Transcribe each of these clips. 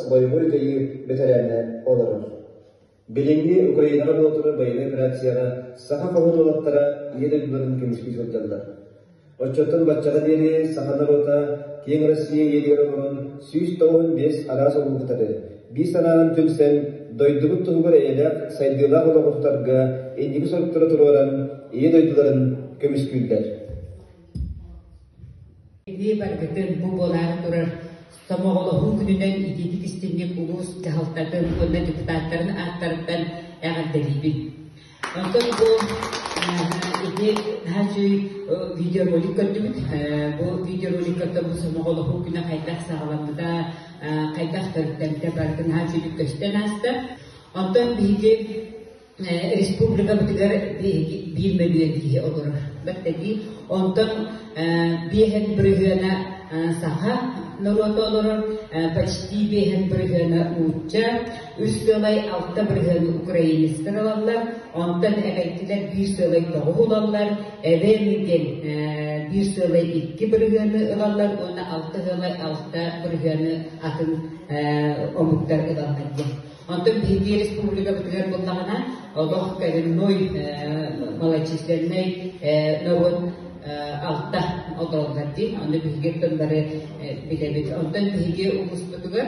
боевой дьайыы бэтэрээнэ олорор. Билиҥҥи Украинаҕа буолтура боевой операцияҕа саха хоһун уолаттара ийэ дойдуларын көмүскүү сылдьаллар. Оччоттон баччаҕа диэри саха норуота киэҥ Россия иэдигэр олорон сүүс тоҕуһун биэс араас оргутары, биир санаанан түмсэн, дойдубут туһугар эйэлээх, сайдыылаах олоҕуртарга инники соруктары туруоран, ийэ дойдуларын көмүскүүллэр. Эбии баргытын бу буолаары турар Сомоҕолоһуу күнүнэн итиитик истиҥник улуус дьаһалтатын уонна депутаттарын ааттарыттан эҕэрдэлиибин. Оттон бу ити наһаа үчүгэй видеоролик көрдүбүт. Бу видеороликтартан бу Сомоҕолоһуу күнэ хайдах саҕаламмыта, хайдах төрүттэммитэ барытын наһаа үчүгэй көстөн ааста. Оттон биһиги республикабытыгар биһиги биир мөлүйүөн киһи олорор. Бэртэтии. Онтон биэһэн бырыһыана саха норуота олорор, почти биэһэн бырыһыана нуучча, Үс-тыалай алта бырыһыан украинецтар ылаллар, онтон эҕэйдилэр биир сыалай тоҕус ылаллар, эбэми диэн биир сыалай икки бырыһыаны ылаллар уонна алта сыалай алта бырыһыаны атын омуктар ылаллар диэн. Онтон биһиги республикабытыгар буллаҕына, олох коренной малочисленнай норуот алта отоллар диэн, ону биһиги тыллары билэбит. Онтон биһиги улууспутугар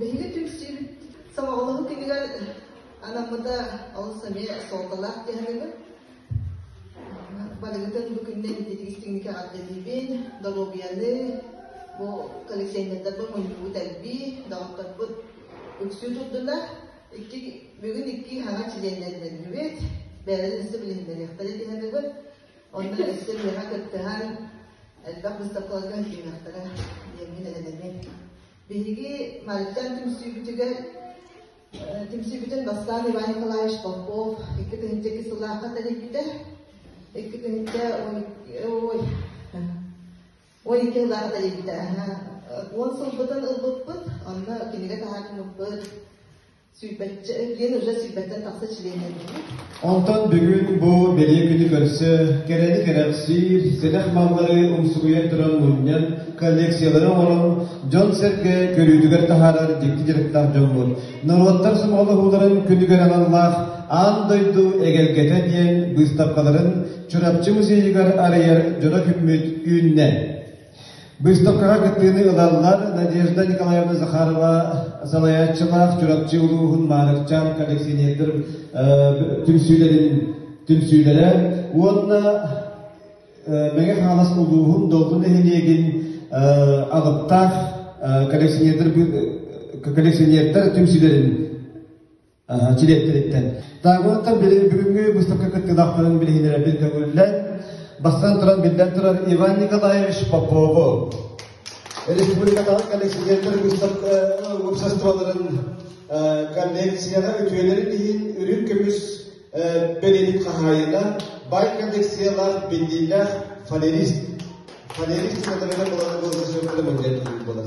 Биһиги түмсүүбүт сомоҕолоһуу күнүгэр анаммыта олус эмиэ суолталаах түһэрибит. Барыгытын бу күннэ интеллигистиҥҥэ аҕардыһыыбын, доруобуйаны, бу коллекционердарбыт мунньугут элбии, доҕотторбут үксүү турдулар. Икки, бүгүн икки хаҥа чилиэннэрдэннибит, бэйэлэрин истэ билиһиннэриэхтэрэ түһэрибит. Онно өссө үөһэ кыттыһан, элбэх быстапкаларга киириэхтэрэ диэҥҥэ дэлэлэниэм. Биһиги Марыттан түмсүүбүтүгэр түмсүүбүтүн бастаан Иван Николаевич Попов икки тыһыынча икки сыллаахха тэрийбитэ. Икки тыһыынча ой, ой икки сыллаахха тэрийбитэ. Уон сылбытын ылбыппыт, онно кинигэ таһаан муппут, Онтон бүгүн бу бэлиэ күнү көрсө кэрэни кэрэхсиир, сэдэх маллары умсугуйар туран мунньан, коллекциялары оҥорон, дьон-сэргэ көрүүтүгэр таһаарар дьикти дьарыктаах дьоммут, норуоттар сомоҕолоһууларын күнүгэр аналлаах Аан дойду эгэлгэтэ диэн быыстапкаларын Чурапчы музейыгар арыйар дьоно күммүт үүннэ. Выставкаҕа кыттыыны ылаллар Надежда Николаевна Захарова салайааччылаах Чурапчы улууһун Маарыкчаан коллекционердар түмсүүлэрин түмсүүлэрэ уонна Мэҥэ Хаҥалас улууһун Долгун нэһилиэгин алыптаах коллекционердар коллекционердар түмсүүлэрин дириэктэриттэн. Дааҥылыттан бүгүҥҥү выставка кыттыылаахтарын билиһиннэрэрбит көҥүллэн, бастан туран биллэн турар Иван Николаевич Попову, республикатааҕы коллекционерлар уопсастыбаларын коллекцияҕа үтүөлэрин иһин үрүҥ көмүс бэлиэтин хаһаайына, бай коллекциялаах биллиилээх фанерист фанерист санатарынан булан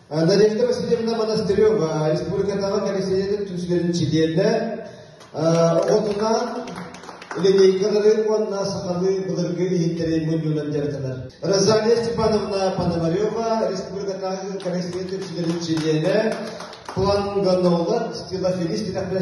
Дарья Васильевна Монастырева, республикатааҕы коллективинин түмсүгэрин чилиэнэ, оҕотунаан линейкалары уонна сахалыы былыргы иһиттэри мунньуунан дьарыктанар. Розалия Степановна Пономарева, республикатааҕы коллективинин түмсүгэрин чилиэнэ, планганолог, стилофилист, дирэхтэрэ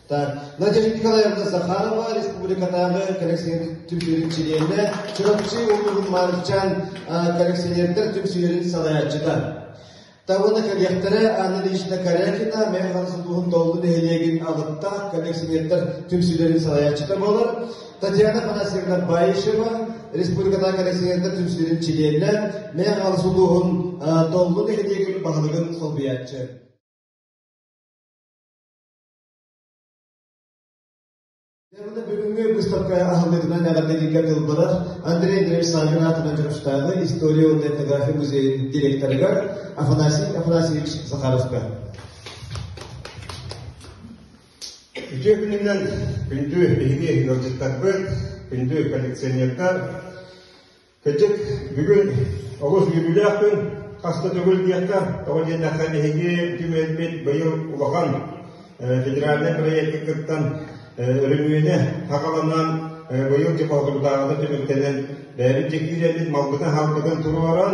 Так, Надежда Николаевна Захарова республикатааҕы коллекционер түмсүүрүн чилиэнэ, Чурапчы улууһун Маарычаан коллекционердар түмсүүлэрин салайааччыта. Табына коллектора Анна Ильична Корякина Механс улууһун Доллу нэһилиэгин алыптаах коллекционердар түмсүүлэрин салайааччыта болар. Татьяна Панасьевна Баишева республикатааҕы коллекционердар түмсүүлэрин чилиэнэ, Механс улууһун Доллу нэһилиэгин баһылыгын солбуйааччы. бүгүҥҥү быыстапка аһыллыытынан эҕэрдэлииргэ тылбылар Андрей Андреевич Саввин аатынан Дьөрүстээҕи история уонна этнография музейын директорыгар Афанасий Афанасьевич Захаровка. Үтүө күнүнэн күндү биһиги ыалдьыттарбыт, күндү коллекционердар, Кэтит бүгүн олус үөрүүлээх күн, хас да төгүл диэххэ, тоҕо диэннэххэ биһиги түмэлбит быйыл улахан федеральнай проекты кыттан өрөмүөнэ хахаланан быйыл дьыалатыгытааҕыта түмүктэнэн бэйэбит дьиктиирэммит малбытын-халбытын туруоран